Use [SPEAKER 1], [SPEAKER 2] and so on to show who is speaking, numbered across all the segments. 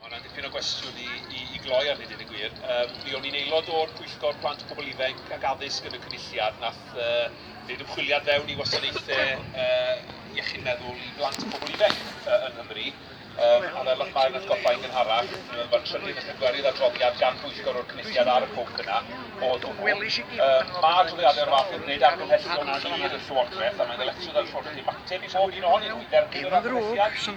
[SPEAKER 1] Mae hwnna'n dipyn o gwestiwn i, i, i gloi arnyn ni, gwir. Um, mi o'n i'n aelod o'r Pwyllgor Plant a Pobl Ifanc ac Addysg yn y Cynulliad, nath uh, wneud ymchwiliad fewn i wasanaethau uh, iechyd meddwl i blant a pobl ifanc uh, yn Nghymru. Um, a fel o'ch mae'n atgoffa i'n gynharach, mae'r trydydd a phedwerydd adroddiad gan bwyllgor o'r cynulliad ar y pwnc yna o hwnnw. Um, mae adroddiadau o'r fath yn gwneud argymhellion clir y llywodraeth a mae'n ddyletswydd ar y llywodraeth i ymateb i bob un ohonyn nhw i dderbyn yr argymhelliad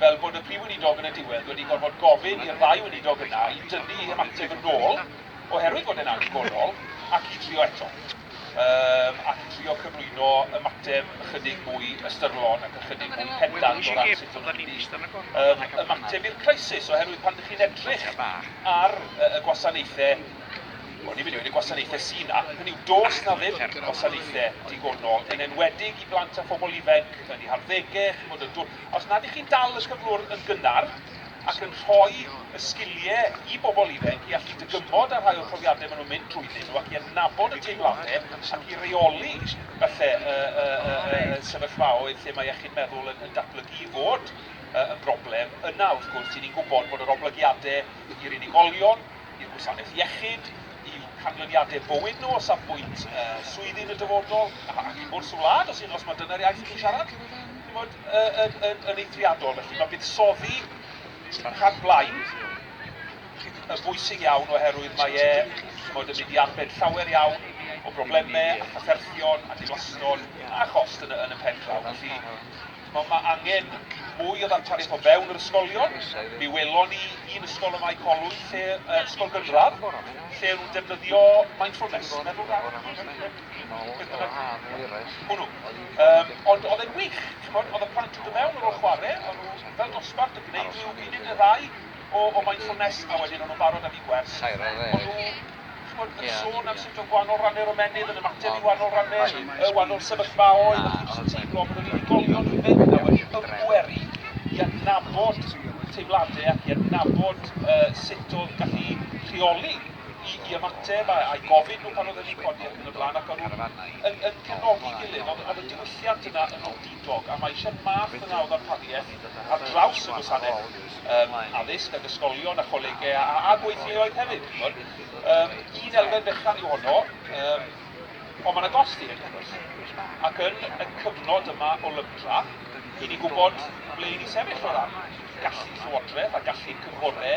[SPEAKER 1] fel bod y Prif Weinidog yn y diwedd wedi gorfod gofyn i'r ddau weinidog yna i dynnu eu hymateb yn ôl oherwydd bod e'n annigonol ac i drio eto yym ac trio cyflwyno ymateb ychydig mwy ystyrlon ac ychydig mwy pendant o ran sut o'n nhw'n mynd i yym ymateb i'r crisis oherwydd pan ydych chi'n edrych ar y gwasanaethau o'n i'n mynd i wedi gwasanaethau sy'n na, hynny yw dos na ddim gwasanaethau digonol yn enwedig i blant a phobl ifanc yn ei harddegau, chimod y dwy Os nad ych chi'n dal y cyflwr yn gynnar ac yn rhoi y sgilie i bobl ifanc i allu dygymod â rhai o'r profiadau maen nhw'n mynd drwyddyn nhw ac i adnabod y teimladau ac i reoli falle y y y y y sefyllfaoedd lle mae iechyd meddwl yn yn datblygu i fod y yn broblem, yna wrth gwrs ry'n ni'n gwybod bod yr oblygiadau i'r unigolion, i'r gwasanaeth iechyd, i'w canlyniadau bywyd nhw o safbwynt y swyddi yn y dyfodol ac i bwrs y wlad os hyd yn oes mai dyna'r iaith chi'n siarad. Chimod, yn, yn, yn eithriadol, felly mae buddsoddi y rhan blaen yn bwysig iawn oherwydd mae e, chimod, yn mynd i arbed llawer iawn o broblemau a chafferthion a diflaston a chost yn y, yn y pen draw. Felly, mae, mae angen mwy o ddarpariaeth o fewn yr ysgolion. Mi welon ni un ysgol y Mae Colwy, lle, uh, ysgol gynradd, lle nhw'n defnyddio mindfulness, meddwl rhan. Hwnnw. Yym, ond oedd e'n wych, ch'mod, oedd y plant yn dod mewn ar ôl chware, o'n nhw fel dosbarth yn gwneud rhyw funud neu ddau o o mindfulness, a wedyn o'n nhw'n barod am eu gwers. O'n nhw, ch'mod, yn sôn am sut oedd gwahanol ranne'r ymennydd yn ymateb i wahanol ranne', yy wahanol sefyllfaoedd, a chi jyst yn teimlo bod yr unigolion yn mynd 'na wedi ymgweru i adnabod teimlade ac i adnabod, yy, sut o'dd gallu rheoli i i ymateb a a'u gofyn nhw pan oedden ni'n codi ac yn y blaen ac o'n nhw'n yn yn cefnogi'n gilydd ond o'dd y diwylliant yna yn wendidog a ma' eisiau math yna o ddarpariaeth ar draws y gwasanaeth yym addysg ag ysgolion a cholegau a a a gweithleoedd hefyd ch'mod yym un elfen fechan yw honno yym ond ma' 'na gost i hyn wrth gwrs ac yn y cyfnod yma o lybra i ni gwybod ble i ni sefyll o ran gallu Llywodraeth a gallu'r cynghore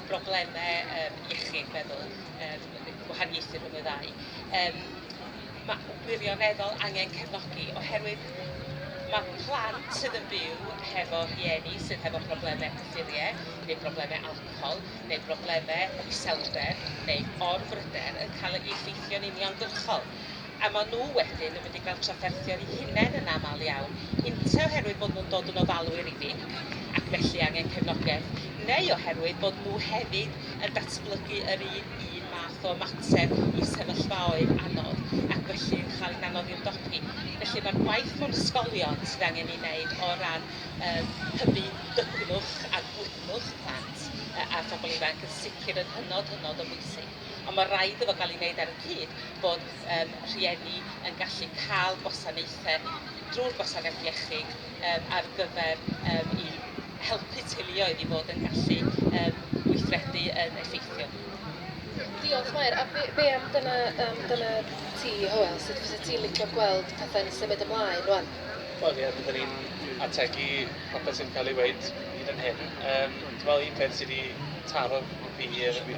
[SPEAKER 2] broblemau yym iechyd meddwl yr y gwahaniaethu rhwng y ddau yym ma' wirioneddol angen cefnogi oherwydd ma' plant sydd yn byw hefo rhieni sydd hefo problemau cyffurie neu broblemau alcohol neu broblemau iselder neu orbryder yn cael ei effeithio'n uniongyrchol. a maen nhw wedyn yn mynd i gael trafferthio eu hunain yn aml iawn, ynte oherwydd bod nhw'n dod yn ofalwyr i fi ac felly angen cefnogaeth, neu oherwydd bod nhw hefyd yn datblygu yr un un math o ymateb i sefyllfaoedd anodd ac felly yn cael hi'n anodd i ymdopi. Felly mae'r gwaith mewn ysgolion sydd angen ei wneud o ran yym hybu dygnwch a gwydnwch plant a phobl ifanc yn sicr yn hynod, hynod o bwysig. Ond mae rhaid iddo gael ei wneud ar y cyd bod yym rhieni yn gallu cael gwasanaethau drwy'r gwasanaeth iechyd yym ar gyfer yym i helpu teuluoedd i fod yn gallu yym gweithredu yn effeithiol. Diolch
[SPEAKER 3] Mair. A be be am dyna yym dyna ti Hywel, sut fysa ti'n licio gweld pethau'n symud ymlaen rwan? Wel ie byddwn i'n
[SPEAKER 4] ategu popeth sy'n cael ei weud hyd yn hyn. Yym dwi'n meddwl un peth sydd wedi taro fi yw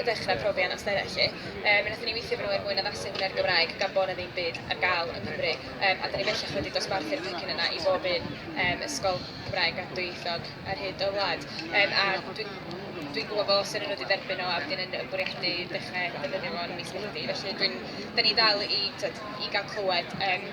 [SPEAKER 3] i ddechrau profi anawsterau felly. Yy mi nathon ni weithio efo nhw er mwyn addasu hwnna i'r Gymraeg gan bo' 'na ddim byd ar ga'l yng Nghymru yym a 'dan ni bellach wedi dosbarthu'r pecyn yna i bob un yym ysgol Gymraeg a dwyieithog ar hyd y wlad yym a dwi dwi'n gwbo bo' seren wedi derbyn o a wedyn yn yn bwriadu dechre defnyddio fo yn mis Medi felly dwi'n 'dan ni dal i t'od i ga'l clywed yym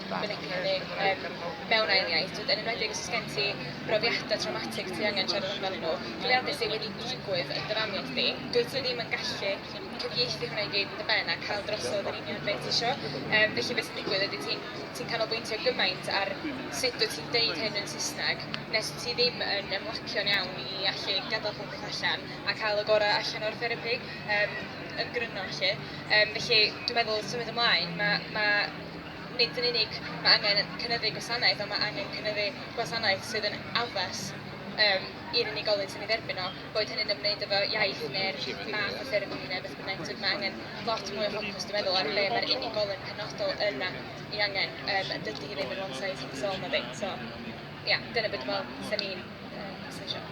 [SPEAKER 3] fynegiedig yym mewn ail iaith, t'od yn enwedig os oes gen ti brofiadau traumatic ti angen siarad amdanyn nhw, profiadau sydd wedi digwydd yn dy famiau chdi, dwyt ti ddim yn gallu cyfieithu hwnna i gyd yn dy ben a cael drosodd yr union beth ti isio. Yym felly be sy'n digwydd ydy ti'n ti'n canolbwyntio gymaint ar sut dwyt ti'n deud hyn yn Saesneg nes ti ddim yn ymlacio'n iawn i allu gadael popeth allan a cael y gorau allan o'r therapi yym yn gryno 'lly. Yym felly dwi'n meddwl symud ymlaen ma' ma' Nid yn unig mae angen cynyddu gwasanaeth, ond mae angen cynyddu gwasanaeth sydd yn addas um, i'r unigolyn sy'n ei dderbyn o, boed hynny'n ymwneud efo iaith neu'r math o therapi neu beth bynnag. Tyd, mae angen lot mwy o ffocws, dwi'n meddwl, ar be mae'r unigolyn penodol yna i angen. Um, dydy hi ddim yn one size fits all, na ddim. So, ia, yeah, dyna beth dwi'n meddwl, da ni'n um,